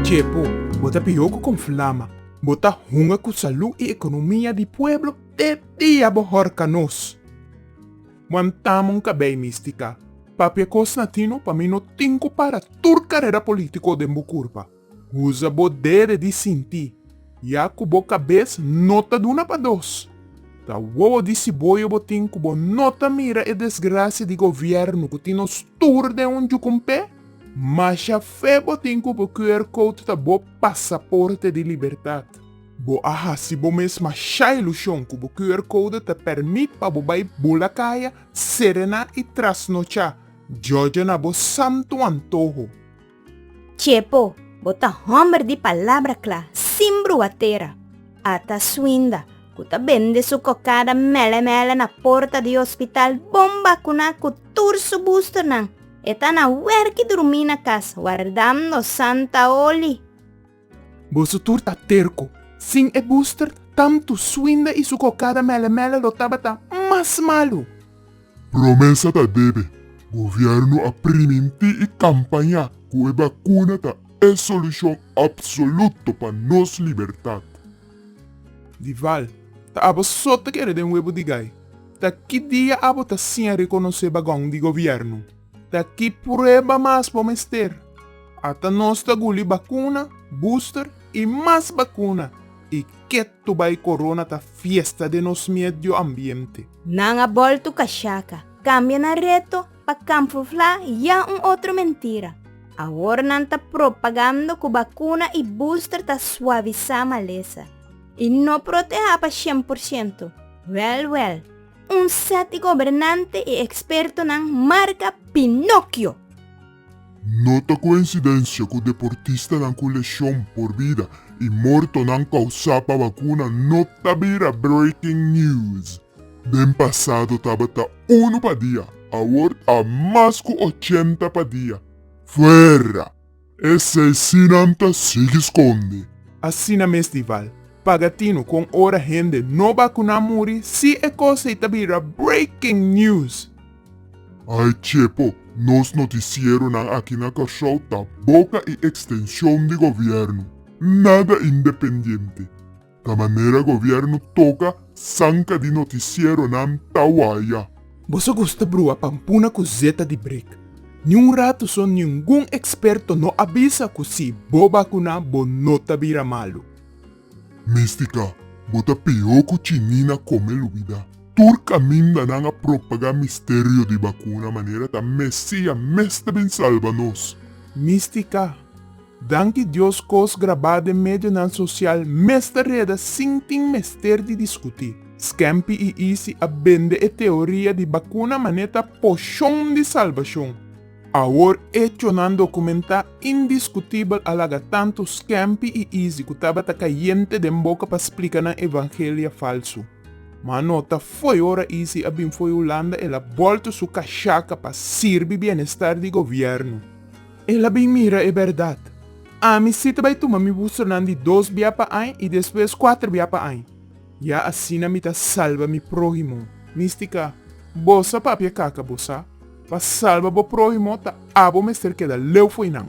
Chepo, bo ta pihoku kon flama. Bo ta hunga ku salú i ekonomia di pueblo te dia bo hòrka nos. Wantama un kabei místika. Papia kos na tino, pa mi no tin ku para tur karera polítiko den bo kurpa. Usa bo dede di sinti, ya ku bo kabes no ta duna pa dos. Ta wowo di siboyo bo tin ku bo no ta mira e desgrasia di govièrnu ku tin nos tur den un jukumpé? Masha fe bo tin ku bo QR code ta bo pasaporte di libertat. Bo a hasi bo mes masha ilushon ku bo QR code ta pèrmit pa bo bai bula kaya, serená i trasnochá, jòjana bo santu antoho. Txepo, bo ta hòmber di palabra kla, sin brua tera. Ata Swinda, ku ta bende su kokada mèlè mèlè na porta di hospital bon bakuná ku tur su bustonan, e ta na wèrki durmí na kas wardando santa oli. Boso tur ta terco. Sin e booster, tanto Swinda y su cocada mele mele lo tabata mas malo. Promesa ta debe, gobierno a priminti y campaña cu e bacuna ta e solucion absoluto pa nos libertad. Di val, ta abo so ta kere den webo di gai. Ta ki dia abo ta siña reconoce bagon di gobierno? Ta ki prueba mas bo mester? Ata nos ta guli bakuna, booster, i mas bakuna, i ketu bai corona ta fiesta den nos miedio ambiente. Nan a boltu kashaka, kambia nan reto pa kamfuflá ya un otro mentira. Awor nan ta propagando ku bakuna i booster ta suavisá malesa i no protehá pa shen por shento. Wèl wèl. Un set di gobernante i ekspertonan marka Pinokio. No ta koinsidensia ku deportistanan ku leshon por bida i mortonan kousá pa vakuna no ta bira breaking news. Den pasado tabata unu pa dia, awor ta mas ku ochenta pa dia. Fuera! E seis sinan ta sigui skonde. Asina mes di Val paga tinu kon ora hende no bakuná muri si e kos ei ta bira breaking news. Ai chepo, nos notisieronan aki na Kòrsou ta boka i ekstenshon di gobièrnu, nada independiente. Ta manera gobierno toca zanca di noticieronan ta waya. Boso gusta brua pampuna cu zeta di brik. Ni un rato so ningun experto no a bisa cu si bo bacuna bo no ta bira malu. Mistica, bo ta peor cu chinina come lubida. Tur camindanan a propaga misterio di bacuna manera ta Mesia mes ta bin salba nos. Mistica, Danki Dios kos grabá den medionan sosial mester reda sin tin mester di diskutí. Skempi i Isi a bende e teoria di bakuna mané ta poshon di salbashon. Awor echonan dokumentá indiskutibel a laga tantu Skempi i Isi ku tabata kayente den boka pa splika nan evangelia falsu. Ma no ta fo'i ora Isi a bin fo'i Hulanda el a bolto su kashaka pa sirbi bienestar di gobièrnu. El a bin mira e bèrdat. Ami sí ta bai tuma mi bustronan di dos bia pa ain i despues kuater bia pa ain. Ya asina mi ta salba mi próhimo. Mística, Boso a papia kaka, bo sa. Pa salba bo próhimo ta abo mester keda leu fo'i nan.